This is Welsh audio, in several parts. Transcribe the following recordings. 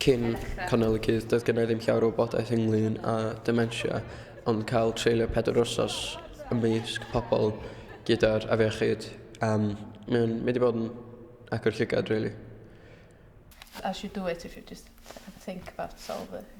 Cyn cynnal y cudd doedd gynna i ddim llawer o wybodaeth ynglyn â dementia ond cael treulio pedwar wsos ymysg pobl gyda'r afiechyd um, mae'n mynd i bod yn agor llygad really. As you do it if you just have a think about solve it.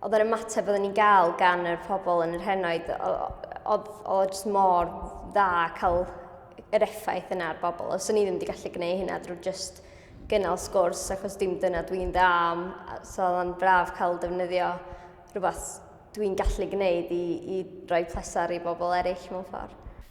Oedd yr ymateb oedden ni'n gael gan yr pobl yn yr henoed, oedd o jyst mor dda cael yr effaith yna ar bobl. Os o'n i ddim wedi gallu gwneud hynna drwy jyst gynnal sgwrs, achos dim dyna dwi'n dda am, so oedd o'n braf cael defnyddio rhywbeth dwi'n gallu gwneud i, i roi pleser i bobl eraill mewn ffordd.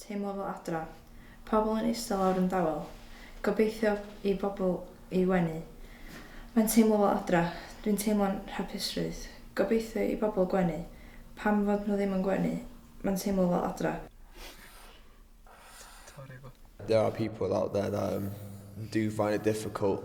Teimlo fel adra. Pobl yn eistedd lawr yn dawel. Gobeithio i bobl ei wenu. Mae'n teimlo fel adra. Dwi'n teimlo'n hapusrwydd. Gobeithio i bobl gwenu. Pam fod nhw ddim yn gwenu? Mae'n teimlo fel adra. There are people out there that um, do find it difficult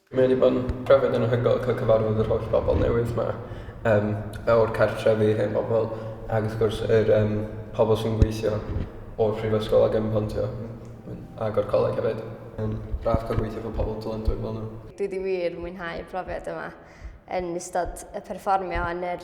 Mae wedi bod yn brofiad anhygoel cael cyfarfod yr holl bobl newydd 'ma yym o'r cartrefi, hen bobl ac wrth gwrs yr yym pobl sy'n gweithio o'r prifysgol ac yn pontio m- ac o'r coleg hefyd. Mae'n braf cael gweithio efo pobl dylanwad fel nhw. Dwi 'di wir mwynhau y profiad yma yn ystod y perfformio yn yr